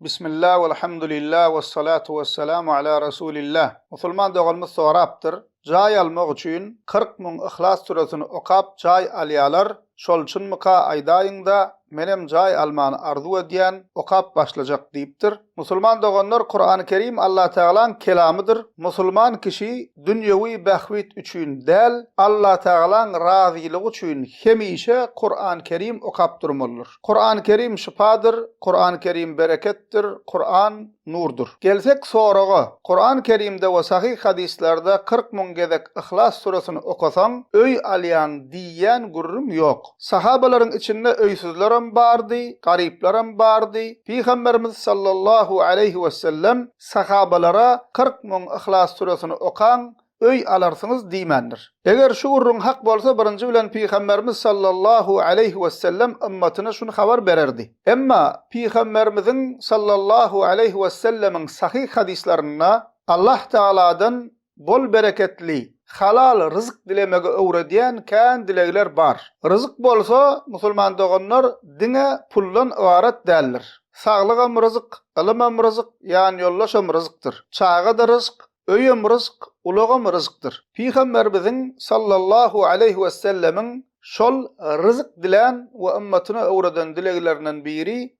Bismillah welhamdulillah wessalatu wessalamu ala rasulillah. Musulman doganymyz sorapdyr, Jaý almak üçin kyrk müň Yhlas süresini okap jaý alýalar, şol çynmyka aýdaýyňda, menem jaý almany arzuw edýän, okap başlajak diýipdir. Musulman doganlar Kurany Kerim Allatagalaň kelamydyr, musulman kişi dünýewi bähbit üçin däl, Allatagalaň razylygy üçin hemişe Kuran-Kerim okap durmalydyr. Kuran-Kerim şypadyr, Kuran-Kerim bereketdir, Kuran, nurdur. Gelsek soraga, Kuran-Kerimde we sahyh hadyslarda kyrk müň gezek Yhlas süresini okasaň, öý alýaň diýýän gürrüň ýok. Sahabalaryň içinde öýsüzlerem bardy, garyplarem bardy. Pygamberimiz sallallahu aleýhi wesellem Sahabalara kyrk müň Yhlas süresini okaň, öý alarsyňyz diýmändir. Eger şu gürrüň hak bolsa birinji bilen Pygamberimiz sallallahu aleýhi wesellem ymmatyna şuny habar bererdi. Emma Pygamberimiziň sallallahu aleýhi wesellemiň sahyh hadyslarynda Allah Tagaladan bol-bereketli, halal ryzyk dilemegi öwredýän kän dilegler bar. Ryzyk bolsa, musulman doganlar, diňe puldan ybarat däldir. Saglygam ryzyk, ylymam ryzyk, ýanýoldaşam ryzykdyr. Çaga-da ryzyk, öýem ryzyk, ulagam ryzykdyr. Pygamberimiziň sallallahu aleýhi wessellemiň şol ryzyk dilän we ymmatyna öwreden dileglerinden biri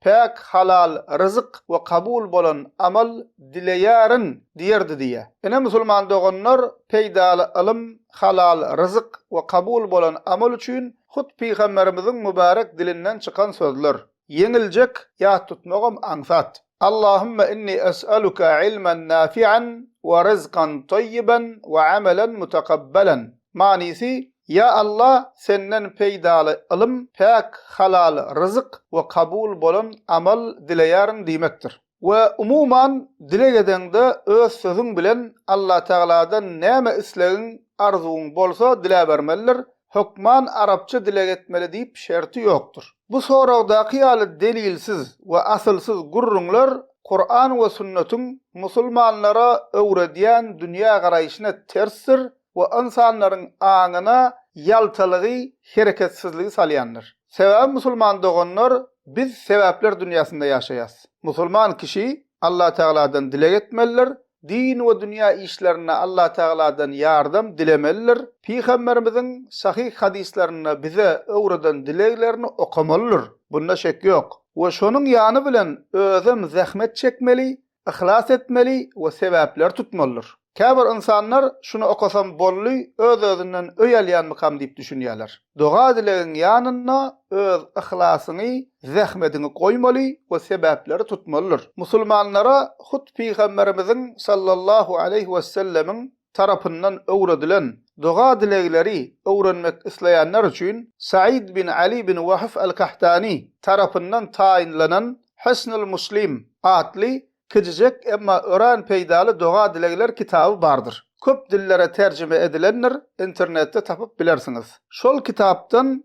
Päk halal ryzyk we kabul bolan amal dileýärin diýerdi diýýä. Ine musulman doganlar peýdaly ylym, halal ryzyk we kabul bolan amal üçin hut pygamberimiziň mübärek dilinden çykan sözler. Ýeňiljek, ýat tutmagam aňsat. Allahumma inni es'aluka ilmen nafi'an we ryzkan toýiben we amelen mutakabbalan. Manysy, Ýa Alla Senden peýdaly ylym, päk, halal ryzyk we kabul bolan amal dileýärin diýmekdir. We umuman dileg edeňde öz sözüň bilen Allatagaladan näme islegiň, arzuwyň, bolsa diläbermelidir, hökman arapça dileg etmeli diýip şerti ýokdur. Bu soragdaky ýaly delilsiz we asylsyz gürrüňler Kuran we sünnetiň musulmanlara öwredýän dünýägaraýşyna tersdir we ynsanlaryň aňyna ýaltalygy, hereketsizligi salýandyr. Sebäbi musulman doganlar biz sebäpler dünýäsinde ýaşaýas. Musulman kişi Allatagaladan dileg etmelidir, din we dünýä işlerinde Allatagaladan ýardam dilemelidir, Pygamberimiziň sahyh hadyslarynda bize öwreden dileglerini okamalydyr, bunda şek ýok, we şonuň ýany bilen özem zähmet çekmeli, yhlas etmeli we sebäpleri tutmalydyr. Käbir ynsanlar şuny okasam boldy, öz-özünden öý alýanmykam diýip düşünýärler. Doga-dilegiň ýanynda öz yhlasyňy, zähmediňi goýmaly we sebäpleri tutmalydyr. Musulmanlara hut Pygamberimiziň sallallahu aleýhi wesellemiň tarapyndan öwredilen doga-dilegleri öwrenmek isleýänler üçin Said bin Ali bin Wahf al-Kahtani tarapyndan taýynlanan Hisnul Muslim atly kijijek emma örän peýdaly doga-dilegler kitaby bardyr. Köp dillere terjime edilendir, internetde tapyp bilersiňiz. Şol kitapdan